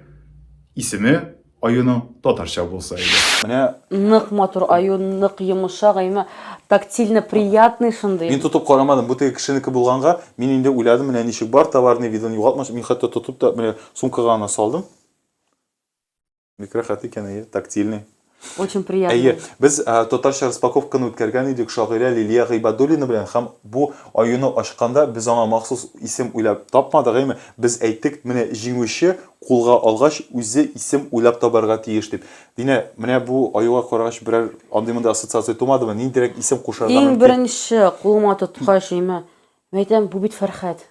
исеме Аюның татарча булса иде. Менә Нык матур аю, нык йомышак, әйме тактильно приятный шундый. Мин тотып карамадым, бу теге кешенеке булганга, мин инде уйладым, менә ничек бар, товарный видын югалтмасын, мин хәтта тотып та, менә сумкага гына салдым. Бик рәхәт икән, әйе, тактильный. Очень приятно. Әйе, без ә, татарча распаковканы үткәргән идек шагыйрә Лилия Гыйбадуллина белән һәм бу аюны ачканда без аңа махсус исем уйлап тапмадык, әйме? Без әйттек, менә җиңүче кулга алгач, үзе исем уйлап табарга тиеш дип. Динә, менә бу аюга карагач берәр андый-мондый ассоциация тумадымы? Ниндирәк исем кушарга мөмкин? Иң беренче кулыма тоткач, әйме, мин әйтәм, бу бит Фәрхәт.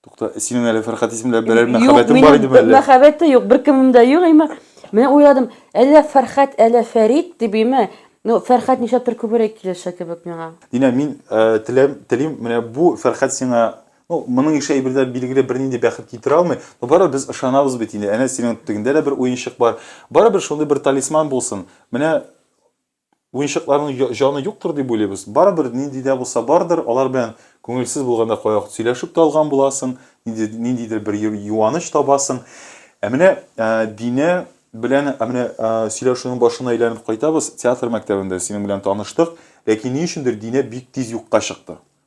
Тукта, синең әле Фәрхәт исеме белән берәр мәхәббәтең бар идеме әллә? Юк, минем мәхәббәт тә юк, беркемем дә юк, әйме. Менә уйладым, әллә Фәрхәт, әллә Фәрит дип, әйме. Ну, Фәрхәт нишләптер күбрәк килешә кебек миңа. Динә, мин теләм, телим, менә бу Фәрхәт сиңа Ну, моның ише әйберләр билгеле бернинди бәхет китерә алмый, но барыбер без ышанабыз бит инде. Әнә синең тегендә дә бер уенчык бар. Барыбер шундый бер талисман булсын. Менә уенчыкларның җаны юктыр дип уйлыйбыз. Барыбер нинди дә булса бардыр, алар белән күңелсез булганда кая вакыт сөйләшеп тә алган буласың, нинди, ниндидер бер юаныч табасың. Ә менә ә, Динә белән ә менә ә, сөйләшүнең башына әйләнеп кайтабыз. Театр мәктәбендә синең белән таныштык, ләкин ни өчендер Динә бик тиз юкка чыкты.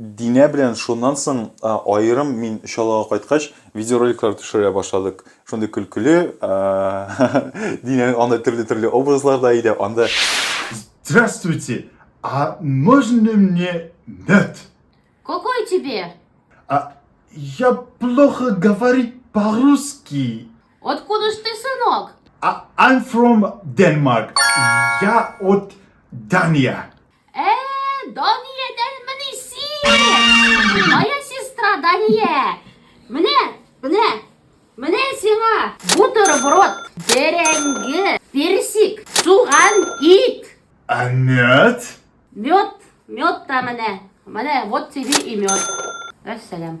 Динә белән шуннан соң аерым мин чаллыга кайткач видеороликлар төшерә башладык. Шундый көлкеле, Динәнең анда төрле-төрле образлар да иде, анда Здравствуйте! А можно мне мед? Какой тебе? А я плохо говорить по-русски. Откуда ж ты, сынок? I'm from Denmark. Я от Дания. Ә, Дания дәлмени син? Моя сестра Дания. Менә, менә, менә сиңа бутерброд, бәрәңге, персик, суган, ит. А мед? Мед, мед та менә. Менә вот тебе и мед. Вәссәлам.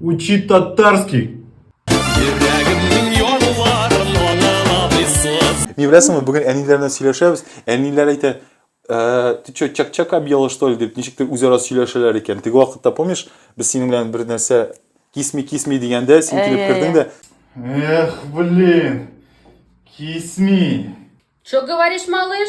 Учи татарский! Ни беләсеңме, бүген әниләр белән сөйләшәбез. Әниләр әйтә, «Э, ты что, чак-чак объела, что ли, дип, ничектер үзара сөйләшәләр икән. Теге вакытта, помнишь, без синең белән бер нәрсә кисми кисми дигәндә, син Ә, килеп ә, кердең дә. Эх, блин, кисми. Что говоришь, малыш?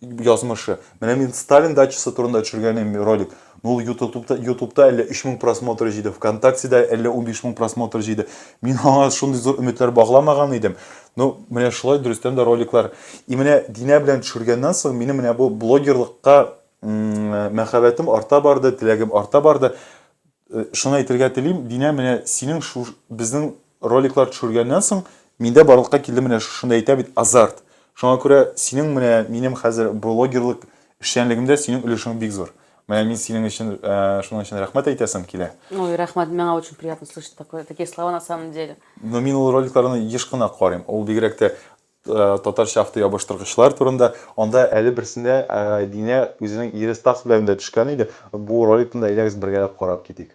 язмышы. Менә мин Сталин дачасы турында төшергәнем ролик. Ну, ютубта, ютубта әллә 3000 просмотр җыйды, ВКонтактеда әллә 15 мең просмотр җыйды. Мин аңа шундый зур өметләр багламаган идем. Ну, менә шулай дөрестән дә роликлар. И менә Динә белән төшергәннән соң минем менә бу блогерлыкка мәхәббәтем арта барды, теләгем арта барды. Э, шуны әйтергә телим, Динә, менә синең шу, безнең роликлар төшергәннән соң миндә барлыкка килде менә шушында әйтә бит азарт. Шуңа күрә синең менә минем хәзер блогерлык эшчәнлегемдә синең өлешең бик зур. Менә мин синең өчен ә, э, шуның өчен рәхмәт әйтәсем килә. Ой, рәхмәт, миңа очень приятно слышать такое, такие слова на самом деле. Но мин ул роликларны еш кына карыйм. Ул бигрәк тә Э, татарча автоябыштыргычлар турында анда әле берсендә э, динә үзенең ире стас белән дә төшкән иде бу роликны да әйдәгез бергәләп карап китик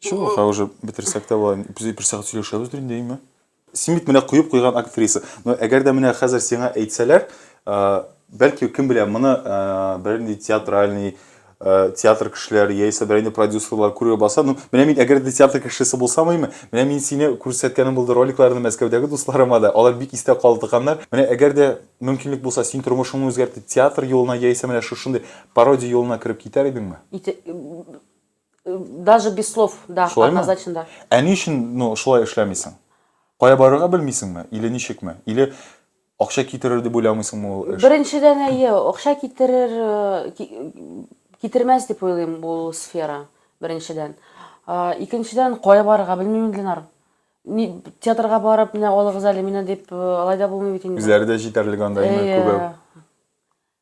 Все, хәзер уже бетерсәк тә була. Без бер сәгать сөйләшәбез инде, әйме? Син бит менә куеп куйган актриса. Но әгәр дә менә хәзер сиңа әйтсәләр, бәлки кем белә, моны бернинди театральный театр кешеләре яисә бернинди продюсерлар күрә баса, ну, менә мин әгәр дә театр кешесе булсам име, менә мин сине күрсәткәнем булды роликларны Мәскәүдәге дусларыма да, алар бик истә калдыганнар. Менә әгәр дә мөмкинлек булса, син тормышыңны үзгәртеп театр юлына яисә менә шушындый пародия юлына кереп китәр идеңме? Даже без слов, да, Шулаймы? однозначно да. Ә ни өчен ну, шулай эшләмисең? Кая барырга белмисеңме? Или ничекме? Или акча китерер дип уйламыйсыңмы ул эш? Беренчедән әйе, акча китерер, э, ки- китермәс дип уйлыйм ул сфера, беренчедән. А, Икенчедән, кая барырга белмим, Ленар. Ни, театрга барып, менә алыгыз әле мине дип, э, алай да булмый бит инде. Үзләре дә җитәрлек анда, әйе, Әйе. күбе.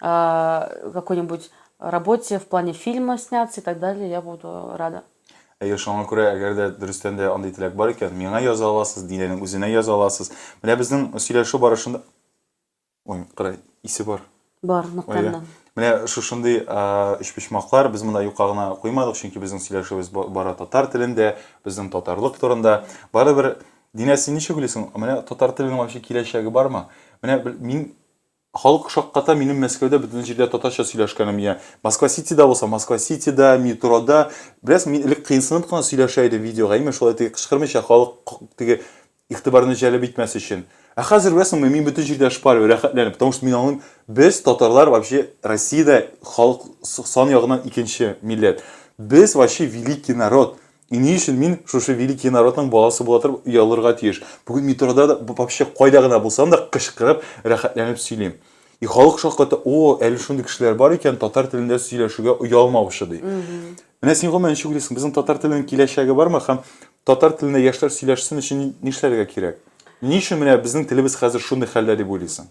э, какой-нибудь работе в плане фильма сняться и так далее, я буду рада. Әйе, шуңа күрә, әгәр дә дөрестән дә андый теләк бар икән, миңа яза аласыз, Динәнең үзенә яза аласыз. Менә безнең сөйләшү барышында Ой, кара, исе бар. Бар, ныктаннан. Менә шушындый өчпочмаклар без монда юкка гына куймадык, чөнки безнең сөйләшүебез бара татар телендә, безнең татарлык турында. Барыбер Динә, син ничек уйлыйсың? Менә татар теленең вообще киләчәге бармы? Менә мин Халык шакката минем Мәскәүдә бөтен җирдә татарча сөйләшкәнем я Москва-Ситида булса, Москва-Ситида, метрода. Беләсең, мин элек кыенсынып кына сөйләшә идем видеога, именно шулай теге кычкырмыйча, халык теге игътибарны җәлеп итмәс өчен. Ә хәзер, беләсеңме, мин бөтен җирдә шпарю, рәхәтләнеп, потому что мин аңлыйм, без, татарлар, вообще Россиядә халык сан ягыннан икенче милләт. Без, вообще, великий народ. И ни өчен мин шушы великий народның баласы була торып оялырга тиеш? Бүген метрода да, вообще кайда гына булсам да, кычкырып, рәхәтләнеп сөйлим. И халык шакката, о, әле шундый кешеләр бар икән, татар телендә сөйләшүгә оялмаучы, ди. Менә син гомумән ничек уйлыйсың, безнең татар теленең киләчәге бармы һәм татар телендә яшьләр сөйләшсен өчен нишләргә кирәк? Ни өчен менә безнең телебез хәзер шундый хәлдә дип уйлыйсың?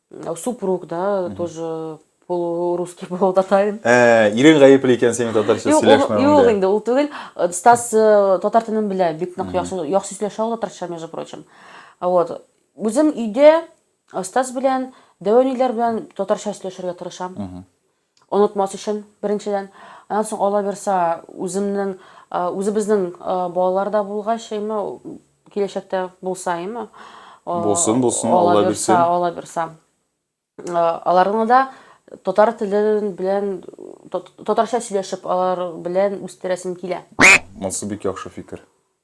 Э, супруг, да, угу. тоже полурусский полутатарин. Ә, э, ирең гаепле икән синең татарча сөйләшмәвеңдә. Юк, инде ул түгел. Э, Стас татар телен белә, бик нык яхшы яхшы сөйләшә ул татарча, между прочим. Вот. Үзем өйдә Стас белән, дәвәниләр белән татарча сөйләшергә тырышам. Онытмас өчен, беренчедән. Аннан соң, аллабирса, үземнең, үзебезнең балалар да булгач, әйме, киләчәктә булса, әйме. Булсын, булсын, Алла бирсен. Аллабирса, аллабирса. Аларны да татар теле белән, татарча сөйләшеп, алар белән үстерәсем килә. Монсы бик яхшы фикер.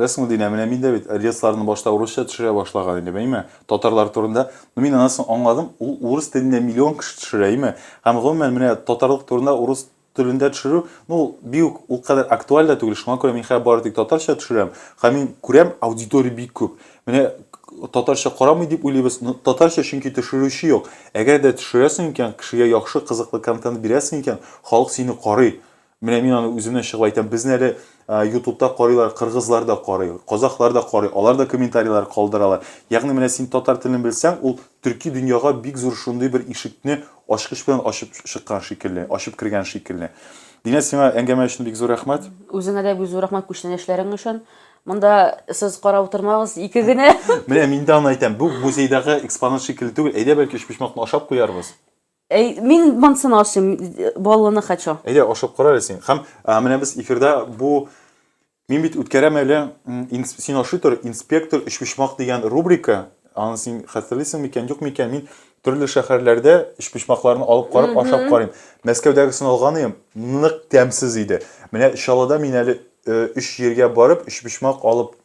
Беләсеңме, Динә, менә мин дә бит релсларны башта урысча төшерә башлаган идем, әйме? Татарлар турында. Ну мин аннан соң аңладым, ул урыс телендә миллион кеше төшерә, әйме? Һәм гомумән, менә татарлык турында урыс телендә төшерү, ну ул бик үк ул кадәр актуаль да түгел, шуңа күрә мин хәзер бары тик татарча төшерәм. Һәм мин күрәм, аудитория бик күп. Менә татарча карамый дип уйлыйбыз, ну татарча чөнки төшерүче юк. Әгәр дә төшерәсең икән, кешегә яхшы, кызыклы контент бирәсең икән, халык сине карый. Менә мин аны үземнән чыгып әйтәм, безне әле ютубта карыйлар, кыргызлар да карый, казахлар да карый, алар да комментарийлар калдыралар. Ягъни менә син татар телен белсәң, ул төрки дөньяга бик зур шундый бер ишекне ачкыч белән ачып чыккан шикелле, ачып кергән шикелле. Динә, сиңа әңгәмә өчен бик зур рәхмәт. Үзеңә дә бик зур рәхмәт күчтәнәч эшләрең өчен. Монда сез карап утырмагыз, ике генә. Менә мин дә аны әйтәм, бу музейдагы экспонат шикелле түгел, әйдә бәлки өчпочмакны ашап куярбыз. Әй, мин монсын ашыйм, баллыны хочу. Әйдә, ашап кара әле син. Һәм менә без эфирда бу Мин бит үткәрәм әле син ашый тор, инспектор өчпочмак дигән рубрика. Аны син хәтерлисең микән, юк микән? Мин төрле шәһәрләрдә өчпочмакларны алып карап ашап карыйм. Мәскәүдәгесен алган идем, нык тәмсез иде. Менә Чаллыда мин әле өч җиргә барып өчпочмак алып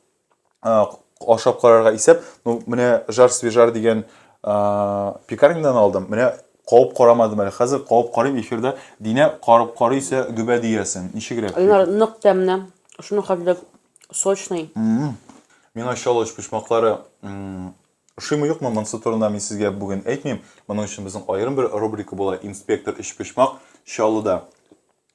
ашап карарга исәп, ну, менә жар свежар дигән пекарнядан алдым. Менә кауып карамадым әле. Хәзер кауып карыйм эфирда. Динә карып карыйсә гөбә диясен. Ничегрәк? Алар нык тәмне. Шуны хәзер сочный. Миңа чалыш почмаклары ошыймы юкмы, монсы турында мин сезгә бүген әйтмим. Моның өчен безнең аерым бер рубрика була, инспектор өч почмак Чаллыда.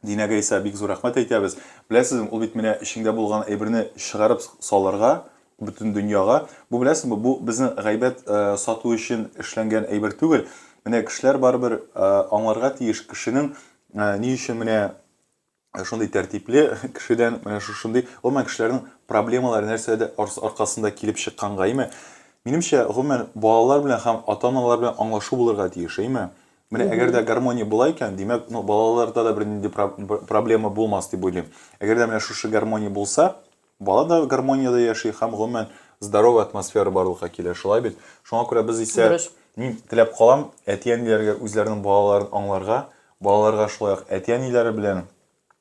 Динә Гайса, бик зур рәхмәт әйтәбез. Беләсезме, ул бит менә эчеңдә булган әйберне чыгарып салырга, бөтен дөньяга. Бу, беләсезме, бу безнең гайбәт сату өчен эшләнгән әйбер түгел. Менә кешеләр барыбер аңларга тиеш, кешенең ни өчен менә шундый тәртипле кешедән менә шушындый, гомумән, кешеләрнең проблемалары нәрсәдә аркасында килеп чыкканга, әйме? Минемчә, гомумән, балалар белән һәм ата-аналар белән аңлашу булырга тиеш, әйме? Менә әгәр дә гармония була икән, димәк, ну, балаларда да бернинди проблема булмас дип уйлыйм. Әгәр дә менә шушы гармония булса, бала да гармонияда яши һәм гомумән здоровый атмосфера барлыкка килә, шулай бит? Шуңа күрә без исә мин теләп калам, әти-әниләргә үзләренең балаларын аңларга, балаларга шулай ук әти-әниләре белән